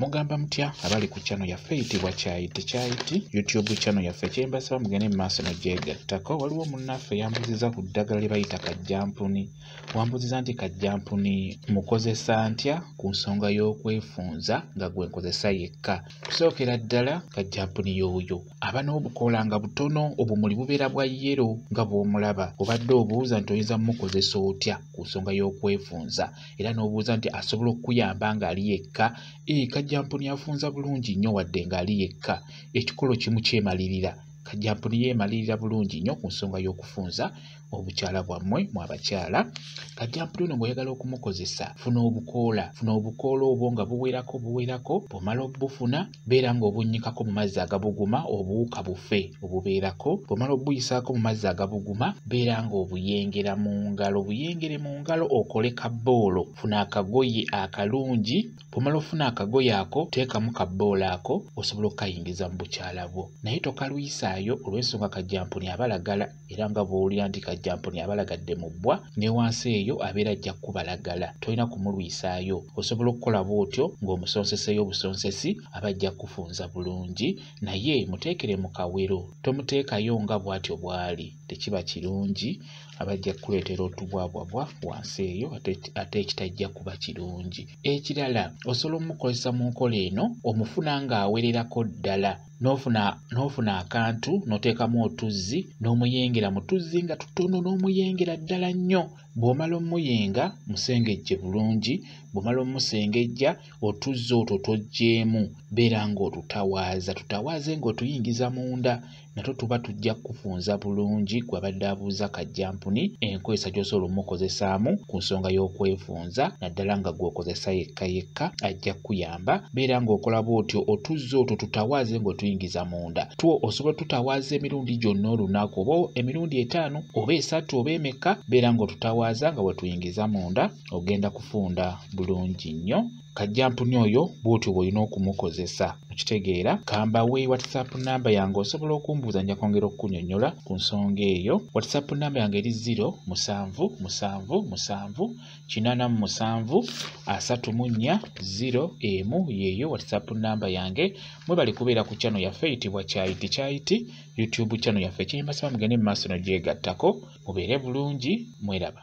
mugamba mutya abali ku channel yaffe eyitibwa kyayi tekyayiti youtube channel yaffe kyembasaba mugende mu maaso negyegattako waliwo munnaffe yambuziza ku ddagala lye bayita kajjampuni wambuziza nti kajjampuni mukozesa ntya ku nsonga y'okwefunza nga gwe nkozesa yekka kusookera ddala kajjampuni yooyo aba n'obukoola nga butono obumuli bubeera bwa yero nga bw'omulaba obadde obuuza nti oyinza mumukozesa otya ku nsonga y'okwefunza era n'obuuza nti asobola okukuyamba ng'ali yekka ee kajjampuni afunza bulungi nnyo wadde ng'ali yekka ekikolo kimu kyemalirira kajjampuni yeemalirira bulungi nnyo ku nsonga y'okufunza obukyala bwammwe mu abakyala kajjampuni ono ng'oyagala okumukozesa funa obukoola funa obukoola obwo nga buwerako buwerako bw'omala obufuna beera ng'obunnyikako mu mazzi agabuguma obuwuka bufe obubeerako bw'omala obuyisaako mu mazzi agabuguma beera ng'obuyengera mu ngalo buyengere mu ngalo okole kabboolo funa akagoye akalungi bw'omala ofuna akagoye ako teekamu kabboolo ako osobola okukayingiza mu bukyala bwo naye tokalwisaayo olw'ensonga kajjampuni abalagala era nga bw'owulira nti kajjampuni abalagadde mu bbwa ne wansi eyo abeera ajja kukubalagala tolina kumulwisaayo osobola okukola bw'otyo ng'omusonseseeyo obusonsesi aba ajja kukufunza bulungi naye muteekere mu kawero tomuteekayo nga bw'atyo bw'ali tekiba kirungi aba ajja kukuleetera otubwabwabwa wansi eyo ate ekitajja kuba kirungi ekirala osobola omukozesa mu nkola eno omufuna ng'awererako ddala n'ofuna n'ofuna akantu n'oteekamu otuzzi n'omuyingira mu tuzzi nga tutono n'omuyingira ddala nnyo bw'omala omuyinga musengejje bulungi bw'omala omusengejja otuzzi otwo toggyemu beera ng'otutawaaza tutawaaze ng'otuyingiza munda natwo tuba tujja kukufunza bulungi gwe abadde abuuza kajjampuni enkozesa gy'osobola omukozesaamu ku nsonga y'okwefunza naddala nga gw'okozesa yekka yekka ajja kukuyamba Ba, beera ng'okola bw'otyo otuzzi otwo tutawaaze ng'otuyingiza munda two osobola tutawaaza emirundi gyonna olunaku oba emirundi etaano oba esatu oba emekka beera ng'otutawaaza nga bwe tuyingiza munda ogenda kufunda bulungi nnyo kajjampuni oyo bw'otyo bw'olina okumukozesa okitegeera kamba we whatsapp namba yange osobola okumbuuza nja kwongera okukunyonyola ku nsonga eyo whatsapp namba yange eri 0 musanvu musanvu musanvu kinana mu musanvu asatu mu nnya ziro emu yeeyo whatsapp namba yange mwebale kubeera ku channel yaffe eyitibwa kyayiti kyayiti youtube channel yaffe ekinyuma saba mugende mu maaso no gyegattako mubeere bulungi mweraba